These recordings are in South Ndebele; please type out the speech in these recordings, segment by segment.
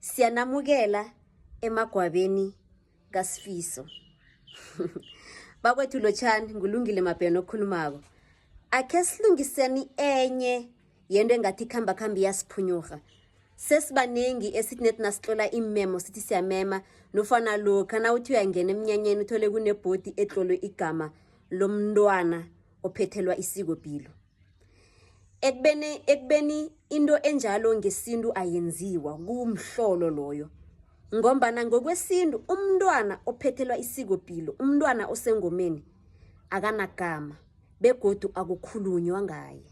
Siyanamukela emagwabeni kaSifiso. Bakwethu Lotshani ngulungile Mabheno okhulumako. Akhe silungiseni enye yento engathi khamba khambi yasiphunyurha. Sesibaningi esithi nethi nasitlola iimemo sithi siyamema nofana lokha nawuthi uyangena emnyanyeni uthole kunebhodi etlolwe igama lomntwana ophethelwa isikopilo. ekubeni ekubeni into enjalo ngesintu ayenziwa kumhlolo loyo ngombana ngokwesintu umntwana ophethelwa isikopilo umntwana osengomeni akanagama begodu akukhulunywa ngaye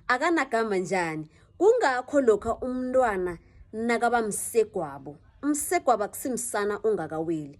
akanagama njani kungakho lokha umntwana nakaba msegwabo umsegwabo akusimsana ongakaweli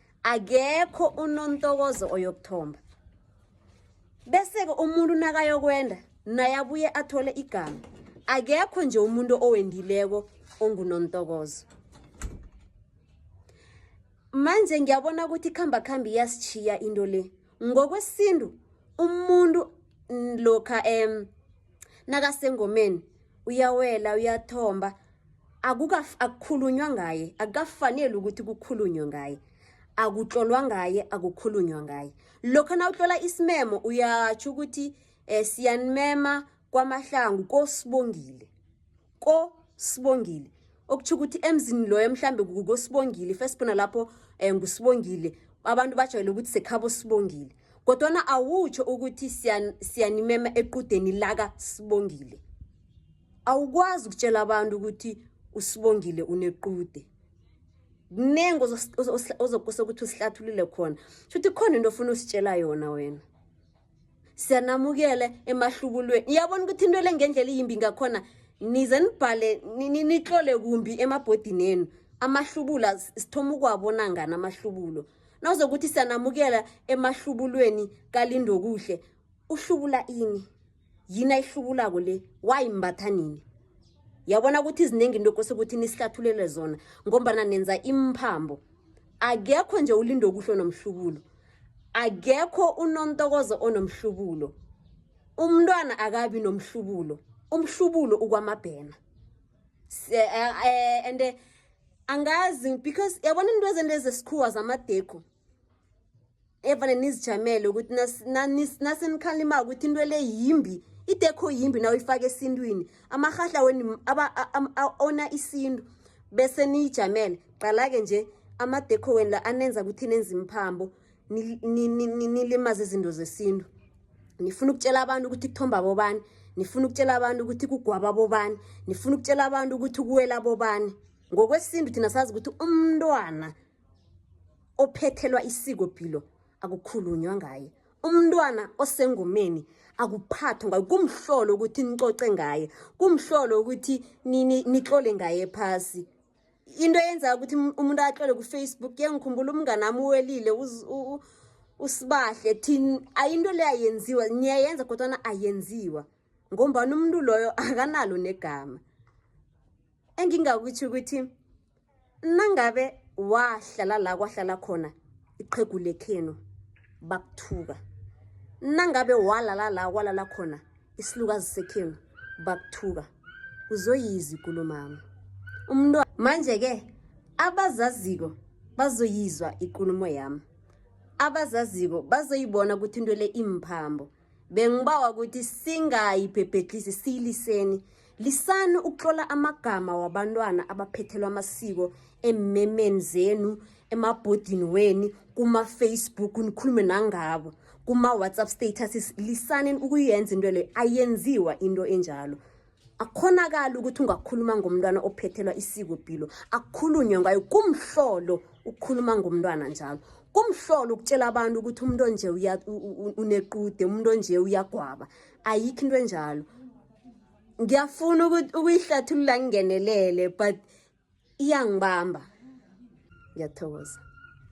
akekho unontokozo oyokuthomba bese-ke umuntu nakayokwenda naye abuye athole igama akekho nje umuntu owendileko ongunontokozo manje ngiyabona ukuthi ikhamba khambi iyasitshiya into le ngokwesintu umuntu lokha em nakasengomeni uyawela uyathomba akukhulunywa ngaye akukafanele ukuthi kukhulunywe ngaye akutlolwa ngaye akukhulunywa ngaye lokho na utlola isimemo uyatsho ukuthi um siyanimema kwamahlangu kosibongile kosibongile okutsho ukuthi emzini loyo mhlambe kukosibongile first bona lapho um ngusibongile abantu bajwayele ukuthi sekhabo sibongile kodwana awutsho ukuthi siyanimema equdeni laka sibongile awukwazi ukutshela abantu ukuthi usibongile unequde kuningi ozokose ukuthi usihlathulule khona shuthi khona into ofuna usitshela yona wena siyanamukele emahlubulweni iyabona ukuthi into le ngendlela iyimbi ngakhona nize nibhale nitlole kumbi emabhodini enu amahlubula sithoma ukuwabona ngani amahlubulo nawuzokuthi siyanamukela emahlubulweni kalindokuhle uhlubula ini yini ayihlubulako le wayimbatha nini yabona ukuthi iziningi into kose ukuthi nisihlathulele zona ngombana nenza imphambo akekho nje ulindo okuhle onomhlubulo akekho unontokozo onomhlubulo umntwana akabi nomhlubulo umhlubulo ukwamabhena eh, eh, and eh, angazi because yabona into ezento ezesikhuwa zamadekho evane nizijamele ukuthi nasenikhalimako ukuthi into le yimbi idekho yimbi na uyifaka esintwini amarhahla weni ona isintu bese niyijamele qala-ke nje amadekho weni la anenza ukuthi nenza imphambo nilimaze izinto zesintu nifuna ukutshela abantu ukuthi kuthomba bobani nifuna ukutshela abantu ukuthi kugwaba bobani nifuna ukutshela abantu ukuthi kuwela bobani ngokwesintu thina sazi ukuthi umntwana ophethelwa isikopilo akukhulunywa ngaye umntwana osengomeni akuphathwa ngayo kumhlolo ukuthi nicoce ngaye kumhlolo ukuthi nitlole ngaye phasi into eyenza ukuthi umuntu atlole kufacebook yengikhumbula umngane ami uwelile usibahle thini ayinto le ayenziwa niyayenza kodwana ayenziwa ngombani umuntu loyo akanalo negama engingakutho ukuthi nangabe wahlala la kwahlala khona iqhegu lekhenu bakuthuka nangabe walala la kwalala khona isilukazi sekhenu bakuthuka uzoyiza ikulumami umntwana manje-ke abazaziko bazoyizwa ikulumo yami abazaziko bazoyibona ukuthi into le imphambo bengibawa ukuthi singayiphephethisi siyiliseni lisani ukutlola amagama wabantwana abaphethelwa amasiko emmemeni zenu emabhodini weni kuma-facebook nikhulume nangabo kuma-whatsapp status lisani ukuyenza into leyo ayenziwa into enjalo akhonakali ukuthi ungakhuluma ngomntwana ophethelwa isikopilo akukhulunywe ngayo kumhlolo ukukhuluma ngomntwana njalo kumhlolo ukutshela abantu ukuthi umuntu onje unequde umuntu onje uyagwaba ayikho into enjalo ngiyafuna ukuyihlathulula ngingenelele but iyangibamba ngiyathokoza